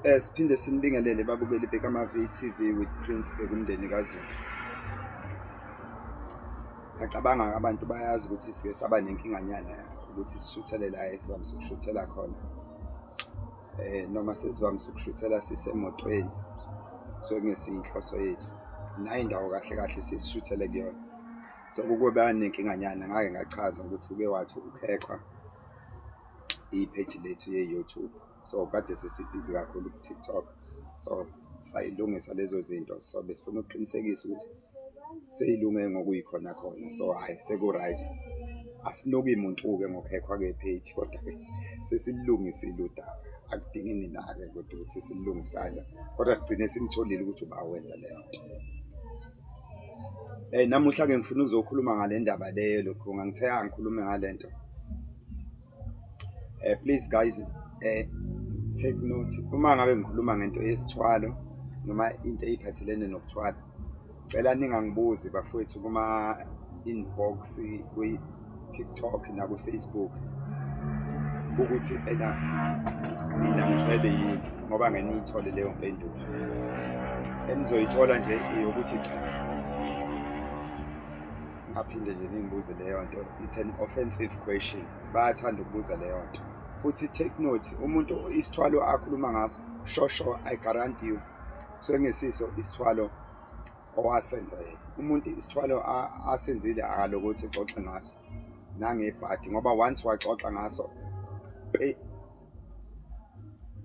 Eh siphinde sinibingelele babukeli bekama VTV with Prince bekumndeni kaZulu. Ngacabanga abantu bayazi ukuthi sike saba nenkinganyana ukuthi sishuthele la esivamise ukushuthela khona. Eh noma sesivamise ukushuthela sisemotweni. So ngesinhloso yethu. Nayi indawo kahle kahle sishuthele kuyona. So kube nenkinganyana ngake ngachaza ukuthi uke wathi ukhexwa ipage lethu ye-YouTube. so kade sesibhizi kakhulu ku-tiktok so sayilungisa lezo zinto so besifuna ukuqinisekisa ukuthi seyilunge ngokuyikhona khona so hhayi seku-right asinuki muntu-ke ngokhekhwa kepage kodwa-ke sesililungisile udaba akudingi nina-ke kodwa ukuthi sililungise kanja kodwa sigcine simtholile ukuthi uba wenza leyo nto um namuhla-ke ngifuna ukuzokhuluma ngale ndaba leyo lokhu ngangithe angikhulume ngale nto eh please guys eh take note uma ngabe ngikhuluma ngento yesithwalo noma into eyiphathelene nokuthwala cela ningangibuzi bafowethu kuma inbox kwi TikTok na ku Facebook ukuthi ena mina ngithwele yini ngoba ngeniyithole leyo mpendulo enizoyithola nje ukuthi cha ngaphinde nje ningibuze leyo nto it's an offensive question bayathanda ukubuza leyo nto futhi take note umuntu isithwalo akhuluma ngaso shosho i guarantee you so ngesiso isithwalo owasenza yena umuntu isithwalo asenzile akalokuthi xoxe ngaso nangebhadi ngoba once waxoxa ngaso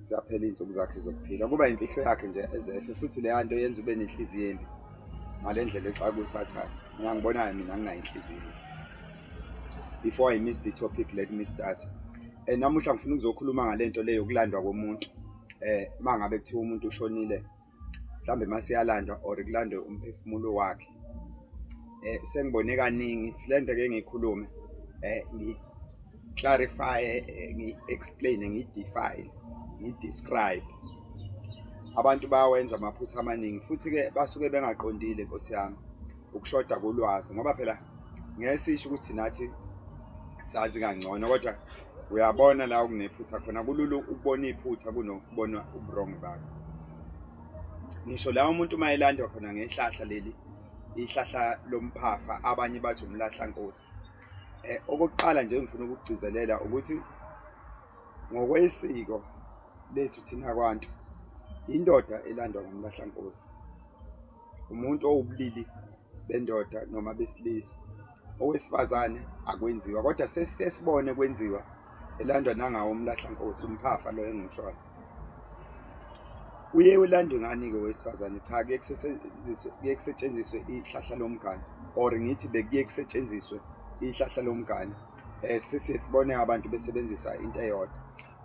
ziyaphela iy'nsuku zakhe zokuphila kuba imfihlo yakhe nje ezefe futhi leya nto yenza ube nenhliziyo embi ngale ndlela exaka usathane ngangibonayo mina nginayo inhliziyo before i miss the topic let me start um namuhla ngifuna ukuzokhuluma ngale nto le yokulandwa komuntu um uma ngabe kuthiwa umuntu ushonile mhlambe masiyalandwa or kulandwe umphefumulo wakhe eh sengibone kaningi silento ke ngikhulume eh ngi clarify eh, ngi explain ngi define ngi describe abantu bayawenza amaphutha amaningi futhi ke basuke bengaqondile nkosi yami ukushoda kolwazi ngoba phela ngeke sisho ukuthi nathi sazi kangcono kodwa uyabona la okunephutha khona kulula ukubona iphutha kunokubona uburongo bakho ngisho la umuntu uma elandwa khona ngehlahla leli ihlahla lomphafa abanye bathi umlahla nkosi eh okokuqala nje ngifuna ukugcizelela ukuthi ngokwesiko lethu thina kwantu indoda elandwa ngumlahla nkosi umuntu owubulili bendoda noma besilisa owesifazane akwenziwa kodwa sesibone kwenziwa elandwa nangawo umlahla nkosi umphafa lo engimshona uye ulandwe ngani ke wesifazane cha ke kusetshenziswe ke kusetshenziswe ihlahla lomgane or ngithi bekuye kusetshenziswe ihlahla lomgane eh sesibone abantu besebenzisa into eyodwa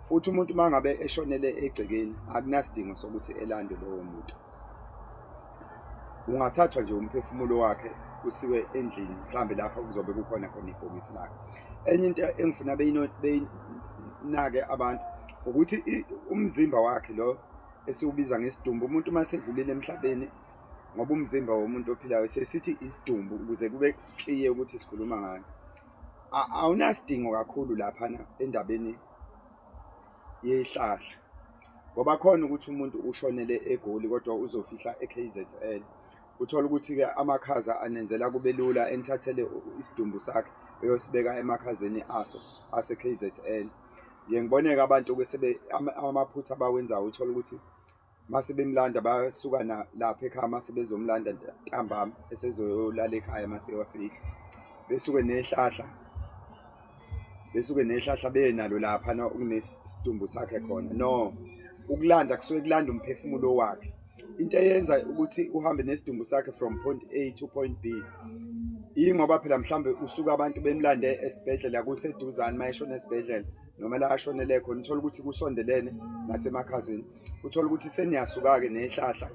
futhi umuntu uma ngabe eshonele egcekeni akunasidingo sokuthi elandwe lowo muntu ungathathwa nje umphefumulo wakhe usiwe endlini mhlambe lapha kuzobe kukhona khona ibhokisi lakhe enye into engifuna beyinake abantu ukuthi umzimba wakhe lo esiwubiza ngesidumbu umuntu uma sedlulile emhlabeni ngoba umzimba womuntu ophilayo sesithi isidumbu ukuze kube clear ukuthi sikhuluma ngani awunasidingo kakhulu lapha endabeni yehlahla ngoba khona ukuthi umuntu ushonele egoli kodwa uzofihla eKZN uthola ukuthi ke amakhaza anenzela kube lula enithathele isidumbu sakhe eyosibeka emakhazeni aso aseKZN ngiyengiboneka abantu ke sebe amaphutha abawenzayo uthola ukuthi mase bemlanda basuka na lapha ekhaya mase bezomlanda ntambama esezoyolala ekhaya mase wafihla besuke nehlahla besuke nehlahla benalo lapha na ukunesidumbu sakhe khona no ukulanda kusuke kulanda umphefumulo wakhe into eyenza ukuthi uhambe nesidumbu sakhe from point A to point B ingoba phela mhlambe usuka abantu bemlande esibhedlela kuseduzane mayeshona esibhedlela noma la ashonele khona uthola ukuthi kusondelene nasemakhazini uthola ukuthi seniyasuka-ke nehlahla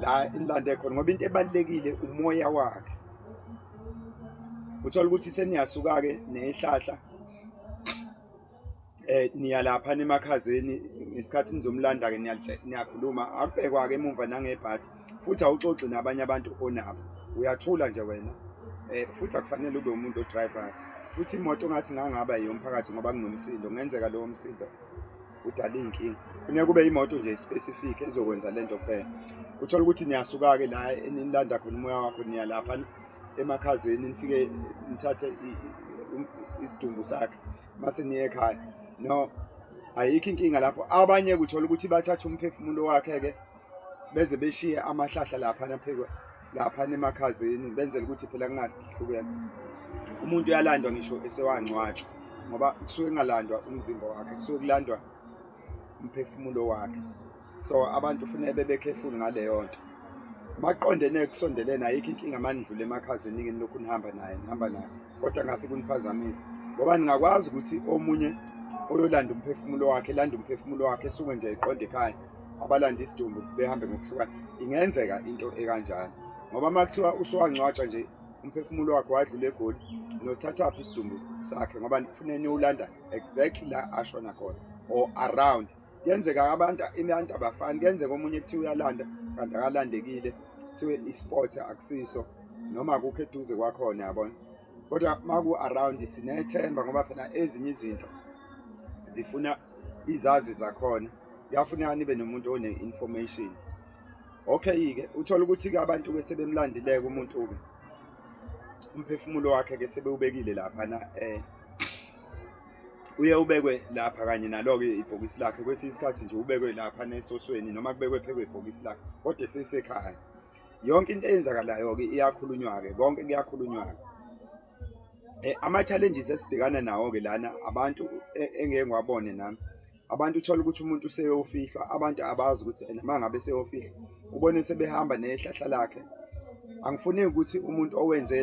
la inilande khona ngoba into ebalulekile umoya wakhe uthola ukuthi seniyasuka-ke nehlahla eh niya lapha nemakhazeni ngesikhathi nizomlanda-ke niyakhuluma akubhekwa-ke emumva nangebhadi futhi awuxoxi nabanye abantu onabo uyathula nje wena eh futhi akufanele ube umuntu odriver futhi imoto ngathi ngangaba yomphakathi ngoba kunomsindo ngenzeka lowo msindo udala inkinga kufuneka kube imoto nje specific ezokwenza lento kuphela uthola ukuthi niyasuka ke la enilanda khona umoya wakho niya lapha emakhazeni nifike nithathe um, isidumbu sakhe mase niye ekhaya no ayikho inkinga lapho abanye kuthola ukuthi bathatha umphefumulo wakhe ke beze beshiye amahlahla lapha naphekwa lapha nemakhazeni benzela ukuthi phela kungahlukene umuntu uyalandwa ngisho esewangcwatshwa ngoba kusuke kungalandwa umzimba wakhe kusuke kulandwa umphefumulo wakhe so abantu funeke bebekhefuli ngaleyo nto maqondene kusondelene ayikho inkinga manidlule emakhazini ngini lokhu nihamba naye nihamba naye kodwa ngase kuniphazamisa ngoba ningakwazi ukuthi omunye oyolanda umphefumulo wakhe landa umphefumulo wakhe esuke nje eqonde ekhaya abalanda isidumbu behambe ngokuhlukana ingenzeka into ekanjani ngoba uma kuthiwa usuwangcwatsha nje umphefumulo wakhe wadlula egoli nosithathaphi isidumbu sakhe ngoba kufune niwulanda exactly la ashona khona or around kuyenzeka abantu abantu abafani kuyenzeka omunye kuthiwa uyalanda kanti akalandekile kuthiwe i-sport akusiso noma akukho eduze kwakhona yabona kodwa maku-around sinethemba ngoba phela ezinye izinto zifuna izazi zakhona kuyafuneka nibe nomuntu one-information okay-ke uthole ukuthi-ke abantu ke sebemlandileke umuntu-ke umphefumulo wakhe ke sebewubekile laphana eh uye ubekwe lapha kanye nalo-ke ibhokisi lakhe kwesinye isikhathi nje ubekwe lapha nesosweni noma kubekwe phekwe ibhokisi lakhe kodwa sesekhaya yonke into eyenzakalayo-ke iyakhulunywa-ke konke kuyakhulunywa-ke um ama-challenges esibhekana nawo-ke lana abantu e, engeke ngiwabone nami abantu uthola ukuthi umuntu useyofihlwa abantu abazi ukuthi ena uma ngabe seyofihlwa ubone sebehamba nehlahla lakhe angifuneki ukuthi umuntu owenze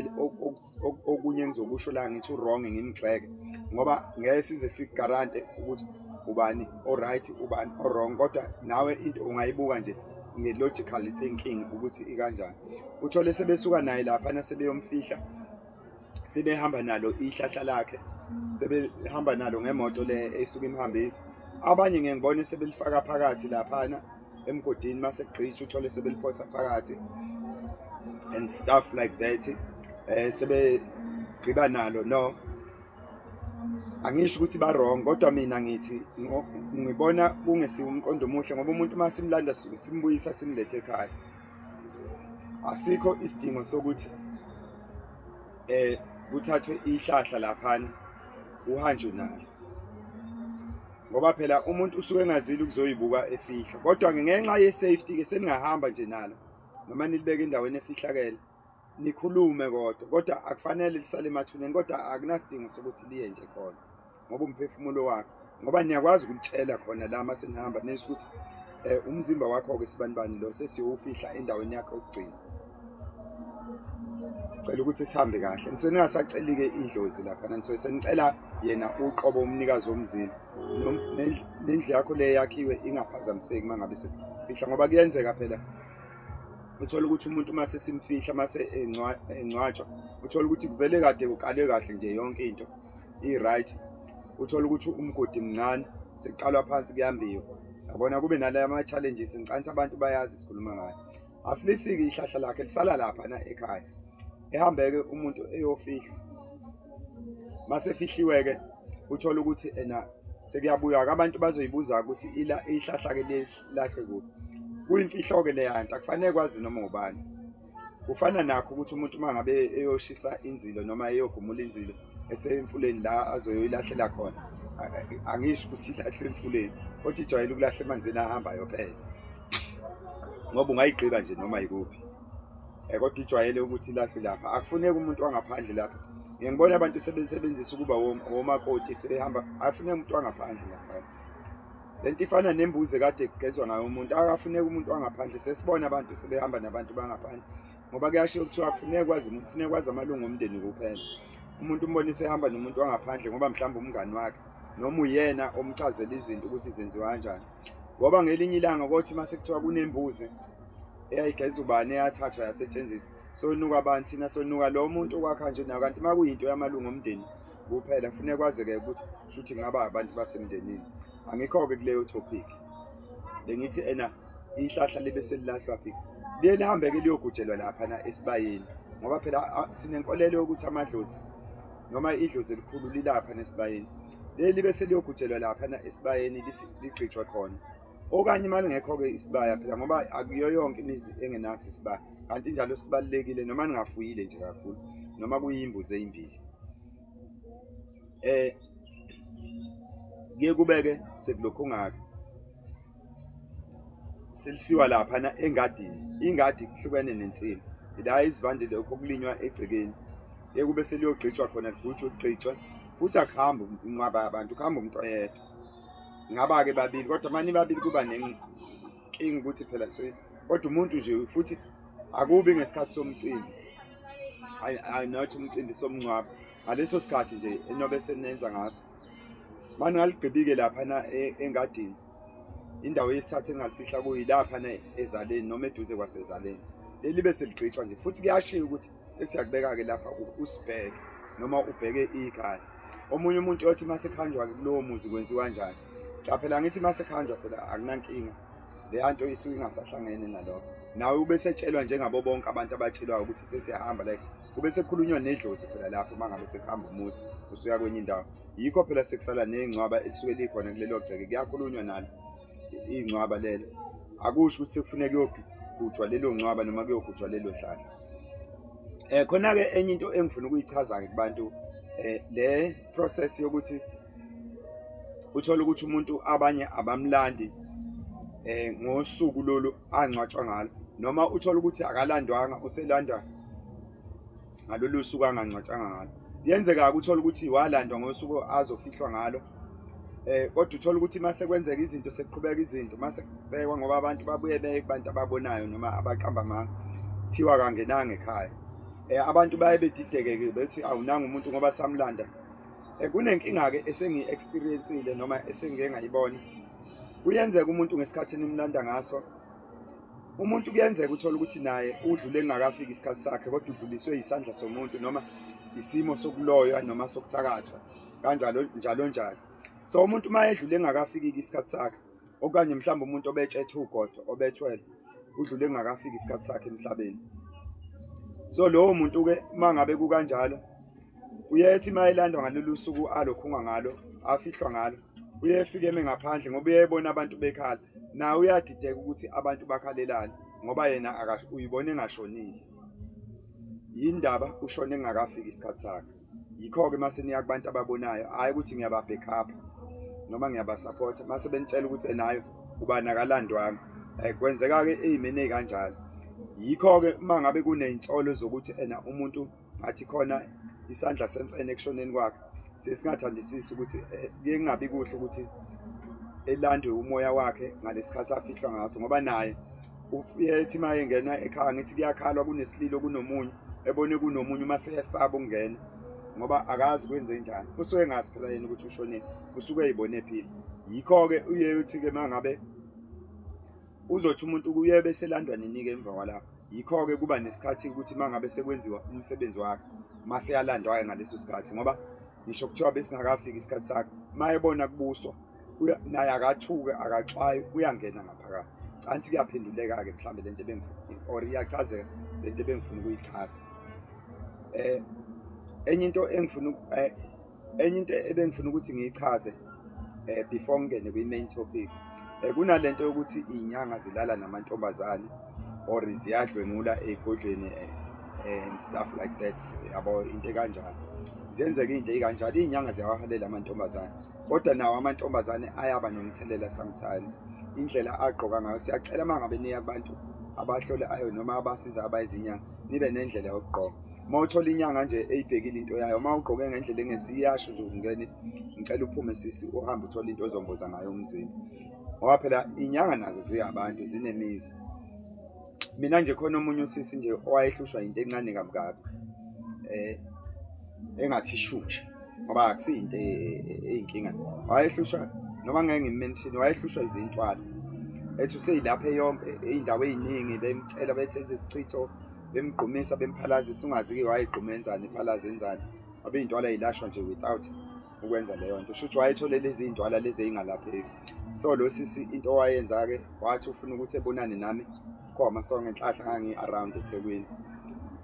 okunye engizokusho la ngithi u-wrong ngimgxeke ngoba ngeke size sigarante ukuthi ubani o-right ubani o-wrong kodwa nawe into ungayibuka nje nge-logical thinking ukuthi ikanjani uthole sebesuka naye laphana sebeyomfihla sebehamba nalo ihlahla lakhe sebehamba nalo ngemoto le esuke imhambisa abanye ngeke ngibone sebelifaka phakathi laphana emgodini mase gqitha uthole sebeliphosa phakathi and stuff like that eh sebe gqiba nalo no angisho ukuthi ba wrong kodwa mina ngithi ngibona kungesiwe umqondo omuhle ngoba umuntu uma simlanda simbuyisa simlethe ekhaya asikho isidingo sokuthi eh kuthathwe ihlahla laphana uhanjwe nalo ngoba phela umuntu usuke engazile ukuzoyibuka efihla kodwa ngenxa ye-safety ke seningahamba nje nalo noma nilibeke endaweni efihlakele nikhulume kodwa kodwa akufanele lisale emathuneni kodwa akunasidingo sokuthi liye nje khona ngoba umphefumulo wakhe ngoba niyakwazi ukulitshela khona la uma senihamba nisho ukuthi um umzimba wakho-ke sibanibani lo sesiyowufihla endaweni yakhe okugcina sicela ukuthi sihambe kahle nisuke ningasaceli-ke idlozi laphana nisuke senicela yena uqobo umnikazi womzimba nendlu yakho le yakhiwe ingaphazamiseki uma ngabe sesifihla ngoba kuyenzeka phela uthola ukuthi umuntu uma sesimfihla uma engcwatshwa uthola ukuthi kuvele kade kuqalwe kahle nje yonke into i-right uthola ukuthi umgodi mncane sekuqalwa phansi kuyambiwa yabona kube nalaya ama-challenges ngicanisa abantu bayazi sikhuluma ngayo asilisiki ihlahla lakhe lisala lapha na ekhaya ehambeke umuntu eyofihlwa masefihliwe-ke uthole ukuthi ena sekuyabuya-ke abantu bazoyibuza ukuthi ihlahla-ke lahle kuphi kuyimfihlo-ke leya nto akufanele kwazi noma ubani kufana nakho ukuthi umuntu uma ngabe eyoshisa inzilo noma eyogumula inzilo eseyemfuleni la azoyoyilahlela khona angisho ukuthi ilahlwe emfuleni kodwa ijwayele ukulahla emanzini ahambayo phela ngoba ungayigqiba nje noma yikuphi um kodwa ijwayele ukuthi ilahlwe lapha akufuneki umuntu wangaphandle lapha ngiyangibona abantu sebesebenzisa ukuba womakoti sebehamba afuneka umuntu wangaphandle lapha lento ifana nembuzi kade kugezwa ngayo umuntu akafuneki umuntu wangaphandle sesibona abantu sebehamba nabantu bangaphandle ngoba kuyashiya kuthiwa akufuneki kwazi umuntu kufuneka kwazi amalungu omndeni kuphela umuntu umbone sehamba nomuntu wangaphandle ngoba mhlawumbe umngani wakhe noma uyena omchazela izinto ukuthi zenziwa kanjani ngoba ngelinye ilanga kothi uma sekuthiwa kunembuzi eyayigeza ubani eyathathwa yasetshenziswa sonuka abantu thina sonuka lo muntu okwakha nje nayo kanti uma kuyinto yamalungu omndeni kuphela kufuneka kwazeke ukuthi shuthi ngaba abantu basemndenini angikho-ke kuleyo topic bengithi ena ihlahla libe selilahlwa phi liye lihambe-ke liyogujelwa laphana esibayeni ngoba phela sinenkolelo yokuthi amadlozi noma idlozi elikhulu lilapha nesibayeni leli libe seliyogujelwa laphana esibayeni ligqitshwa khona okanye uma lingekho-ke isibaya phela ngoba akuyo yonke imizi engenaso isibaya kanti njalo sibalekile noma ningafuyile nje kakhulu noma kuyimbuzi ezimbili eh ngiyekubeke sekulokho ngaka silisiwa lapha na engadini ingadi kuhlukene nensimi la izivande lokho kulinywa egcekeni ekube seliyogqitshwa khona ligujwa ugqitshwa futhi akuhambi inqwaba abantu kuhamba umuntu oyedwa ngaba ke babili kodwa mani babili kuba King ukuthi phela se kodwa umuntu nje futhi akubi ngesikhathi somcimbi. I I know ukuthi umcimbi somncwabo. Ngaleso sikhathi nje enobe senenza ngaso. Manje ngaligqibike lapha na e, engadini. Indawo yesithathu engalifihla kuyilapha na ezaleni noma eduze kwasezaleni. Lelibe seligqitshwa nje futhi kuyashiya ukuthi sesiyakubeka-ke lapha usibheke noma ubheke ikhaya omunye umuntu othi uma sekhanjwa-ke kulowo muzi kwenziwa njani cha phela ngithi uma sekhanjwa phela akunankinga leya nto isuke ingasahlangene nalokho nawe ube setshelwa njengabo bonke abantu abatshelwayo ukuthi sesiyahamba like kube sekukhulunywa nedlozi phela lapho uma ngabe sekuhamba umuzi usuya kwenye indawo yikho phela sekusala ney'ngcwaba elisuke likhona kulelo gceke kuyakhulunywa nalo iy'ngcwaba lelo akusho ukuthi sekufuneka kuyogujwa lelo ngcwaba noma kuyogujwa lelo hlahla eh khona ke enye into engifuna ukuyichaza ke kubantu eh le process yokuthi uthola ukuthi umuntu abanye abamlandi eh ngosuku lolu angcwatshwa ngalo noma uthola ukuthi akalandwanga uselandwa ngalolu suku angangcwatshanga ngalo yenzeka ukuthola ukuthi walandwa ngosuku azofihlwa ngalo eh kodwa uthola ukuthi mase kwenzeka izinto sekuqhubeka izinto mase kubhekwa ngoba abantu babuye beye kubantu ababonayo noma abaqamba amanga thiwa kangenanga ekhaya eh abantu baye bedidekeke bethi awunanga umuntu ngoba samlanda eh kunenkinga ke esengi experienceile noma esengike ngayibona kuyenzeka umuntu ngesikhathi nimlanda ngaso umuntu kuyenzeka uthola ukuthi naye udlule engakafiki isikhathi sakhe kodwa udluliswe isandla somuntu noma isimo sokuloywa noma sokuthakathwa kanjalo njalo njalo so umuntu uma edlule engakafiki isikhathi sakhe okanye mhlawumbe umuntu obetshethe ugodo obethwele udlule engakafiki isikhathi sakhe emhlabeni so lowo muntu ke uma ngabe kukanjalo uyethi uma elandwa ngalolu suku alokhunga ngalo afihlwa ngalo uyefike eme ngaphandle ngoba uyebona abantu bekhala naye uyadideka ukuthi abantu bakhalelani ngoba yena uyibona engashonile yindaba ushone engakafiki isikhathi sakhe yikho-ke uma seniya kubantu ababonayo hhayi ukuthi ngiyababhekhapha noma ngiyabasapotha uma sebenitshela ukuthi enayo ubani akalandwanga um eh, kwenzeka-ke eyimeni ey'kanjalo yikho-ke uma ngabe kuney'nsolo zokuthi ena umuntu ngathi khona isandla semfene ekushoneni kwakhe sesingathandisisi ukuthi eh, kuye kungabi kuhle ukuthi elandwe umoya wakhe ngalesi khathi afihlwa ngaso ngoba naye ufike ethi uma engena ekhaya ngithi kuyakhalwa kunesililo kunomunye ebone kunomunye uma seyesaba ukungena ngoba akazi kwenze njani usuke ngazi phela yena ukuthi ushonile usuke eyibone phila yikho-ke uye uthi-ke uma ngabe uzothi umuntu kuye beselandwa ninike emva kwalapho yikho-ke kuba nesikhathi ukuthi uma ngabe sekwenziwa umsebenzi wakhe uma seyalandwa-ke ngaleso sikhathi ngoba ngisho kuthiwa besingakafiki isikhathi sakhe mayebona kubuswa naye akathuke akaxwayi uyangena ngaphakathi canthi kuyaphenduleka-ke mhlawumbe le nto ebengifuna or iyachazeka le nto ebengifuna ukuyichaza um enye into engifuna eh, enye into ebengifuna ukuthi ngiyichaze eh before ngene kwi main topic eh kunalento yokuthi inyanga zilala namantombazane or ziyadlwengula egodlweni eh, eh, and stuff like that yabo into kanjalo ziyenzeka into kanjalo izinyanga ziyawahalela amantombazane kodwa nawo amantombazane ayaba nomthelela sometimes indlela agqoka ngayo siyacela mangabe niya abantu abahlole ayo noma abasiza abayizinyanga nibe nendlela yokugqoka uma uthola inyanga nje eyibhekile into yayo uma ugqoke ngendlela engesi iyasho nje ukungena ngicela uphume sisi uhambe uthole into ozomboza ngayo umzimba ngoba phela inyanga nazo ziyabantu zinemizwa mina nje khona omunye usisi nje owayehlushwa into encane kabukabi eh engathi ishusha ngoba akusiyinto e, e, eyinkinga wayehlushwa noma ngeke ngimention wayehlushwa izintwala ethi useyilapha yonke indawo eziningi bemtshela bethe izichitho bemgqumisa bemphalazisa ungazi ke wayegquma enzani iphalaza enzani abe iy'ntwala yilashwa nje without ukwenza leyo nto shuthi wayethole lezi iy'ntwala lezi eyingalapheki so lo sisi into owayenza-ke wathi ufuna ukuthi ebonane nami khoma so ngenhlahla ngangi-around ethekwini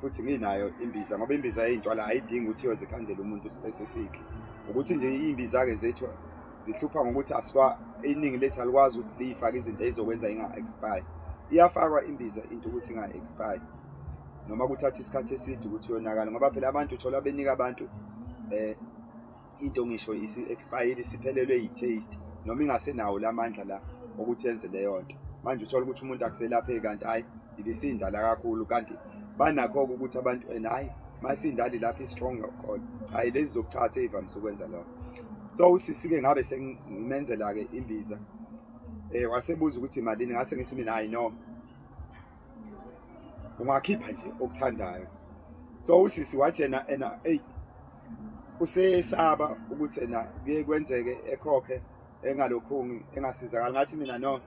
futhi nginayo imbiza ngoba imbiza yey'ntwala ayidingi ukuthi yozikhandela umuntu specific ukuthi nje iy'mbiza-ke zethu zihlupha ngokuthi asiwa iningi lethu alikwazi ukuthi liyifake izinto ezokwenza inga-expire iyafakwa imbiza into ukuthi inga-expire noma kuthatha isikhathi eside ukuthi yonakala ngoba phela abantu uthola benika abantu eh into ngisho isi-expire isiphelelwe yi-taste noma ingasenawo la mandla la okuthi yenze leyo nto manje uthola ukuthi umuntu akuselapheki kanti hhayi ibisindala kakhulu kanti banakho-ke ukuthi abantu and hhayi masindali lapho i-strong khona hhayi lezi zokuchatha ey'vamise ukwenza lokho so usisi-ke ngabe sengimenzela-ke imbiza um wasebuza ukuthi malini ngase ngithi mina hhayi no ungakhipha nje okuthandayo so usisi wathi yena ena eyi usesaba ukuthi ena kuye kwenzeke ekhokhe engalokhungi engasizakali ngathi mina no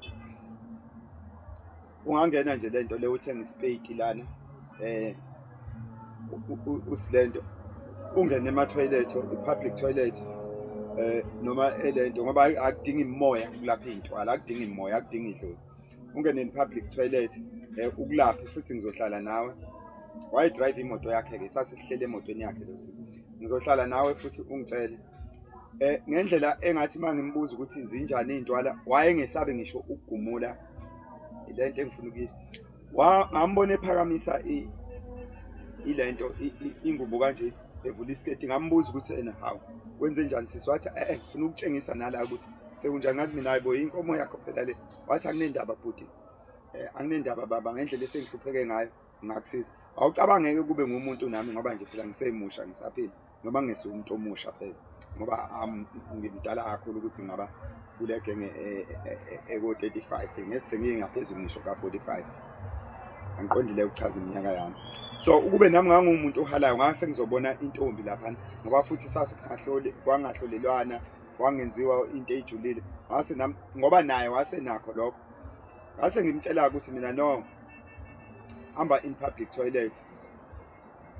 ungangena nje lento le uthenga isipeyiti lana eh usilento ungene ema toilet public toilet eh noma elento ngoba akudingi imoya ukulapha intwala akudingi imoya akudingi idlozi ungene in public toilet eh ukulaphe futhi ngizohlala nawe why drive imoto yakhe ke sasihlele emotweni yakhe losi ngizohlala nawe futhi ungitshele eh ngendlela engathi mangimbuza ukuthi zinjani intwala wayengesabe ngisho ukugumula ilento engifuna ukuyisho ngambona ephakamisa ilento ingubo kanje evula isiketi ngambuza ukuthi ena hawu wenze njani sisi wathi eh, eh ngifuna ukutshengisa nala ukuthi sekunjani ngathi mina hayibo inkomo yakho phela le wathi akunendaba bhuti eh anginendaba baba ngendlela esengihlupheke ngayo ngakusiza awucabangeke kube ngumuntu nami ngoba nje phela ngisemusha ngisaphila noma ngesi umuntu omusha phela ngoba ngimdala kakhulu ukuthi ngaba kule genge eko-35 e, e, e, ngethi sengiyengaphezulu ngisho ka-45 angiqondile ukuchaza iminyaka yami so ukube nami ngangumuntu ohalayo ngase ngizobona intombi laphana ngoba futhi sasingahloli kwangahlolelwana kwangenziwa into eyijulile ngase nami ngoba naye wasenakho lokho ngase ngimtshela ukuthi mina no hamba in public toilet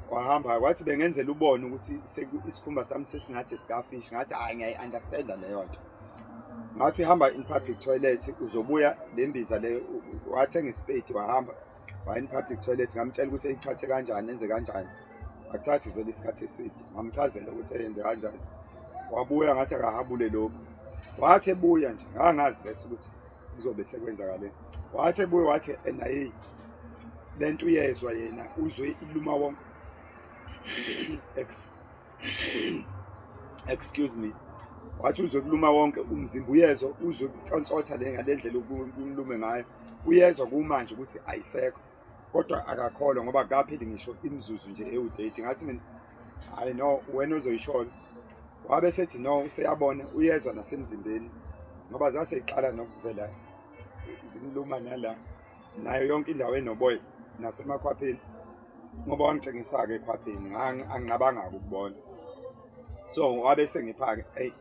kwahamba kwathi bengenzela ubone ukuthi isikhumba sami sesingathi sikafish ngathi hayi ngiyayi-understanda leyo nto ngathi hamba in public toilet uzobuya le mbiza le wathenga isipedi wahamba waya in public toilet ngamtshela ukuthi eyithathe kanjani enze kanjani akuthathi vele isikhathi eside ngamchazela ukuthi eyenze kanjani wabuya ngathi akahabule lokhu wathi ebuya nje ngangazi vese ukuthi kuzobe sekwenzakale wathi ebuye wathi ena hey le nto uyezwa yena uzwe iluma wonke excuse me wathi uzwe kuluma wonke umzimba uyezwa uzwe kucontsotha le ngale ndlela ukumlume ngayo uyezwa kumanje ukuthi ayisekho kodwa akakholwa ngoba kaphili ngisho imizuzu nje ewu-30 ngathi mina hayi no wena ozoyisholo wabe sethi no useyabona uyezwa nasemzimbeni ngoba zaseyiqala nokuvela zimluma nala nayo yonke indawo enoboya nasemakhwapheni ngoba wangitshengisa-ke ekhwapheni anginqabanga-ke ukubona so wabe sengiphake eyi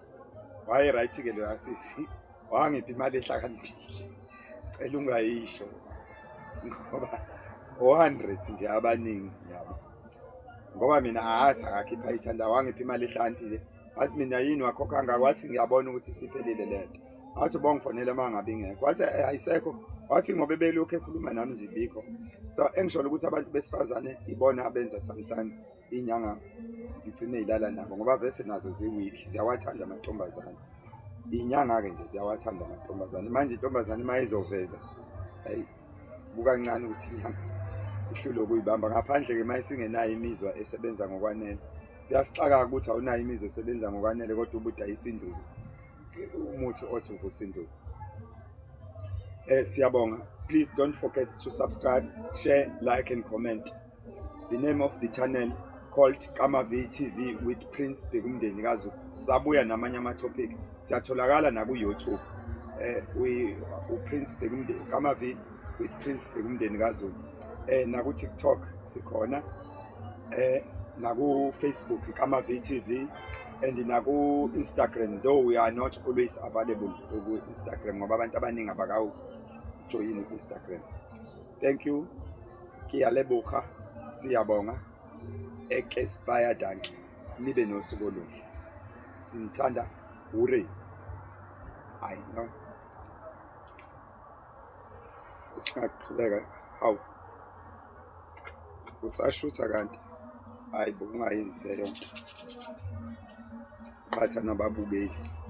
waye right ke lo asisi wangipha imali ehlakaniphile cela ungayisho ngoba 100 nje abaningi yabo ngoba mina ahazi akakhipha ithanda wangipha imali ehlakaniphile wathi mina yini wakho kangaka wathi ngiyabona ukuthi isiphelile le nto wathi ubongifonela uma ngabe ingekho wathi eh, ayisekho wathi ngoba ebelokhu ekhuluma nami nje bikho so engisholo ukuthi abantu besifazane ibona abenza sometimes iy'nyanga zigcine y'lala nabo ngoba vese nazo zi-weak ziyawathanda amantombazane iy'nyanga-ke nje ziyawathanda amantombazane manje intombazane uma izoveza ayi bukancane ukuthi inyanga ihlule ukuyibamba ngaphandle-ke uma isingenayo imizwa esebenza ngokwanele kuyasixaka-ke ukuthi awunayo imizwa esebenza ngokwanele kodwa ubudayisa induku umuthi othi uvusa induku um siyabonga please don't forget to subscribe share like and comment the name of the channel called Kama VTV with Prince Bekumndeni kaZulu. Sabuya namanye ama topic. Siyatholakala na ku YouTube. Eh we u Prince Bekumndeni Kama V with Prince Bekumndeni kaZulu. Eh na ku TikTok sikhona. Eh na ku Facebook Kama VTV and na ku Instagram though we are not always available ku Instagram ngoba abantu abaningi abakawu join Instagram. Thank you. Kiyalebuha. Siyabonga. Ekespire danki. Nibe nosuku oluhle. Sinthanda ure. I know. Singaqhubeka. Hawu. Usashutha kanti. Hayi bo ungayenzi leyo nto. Qhatha nababukeli.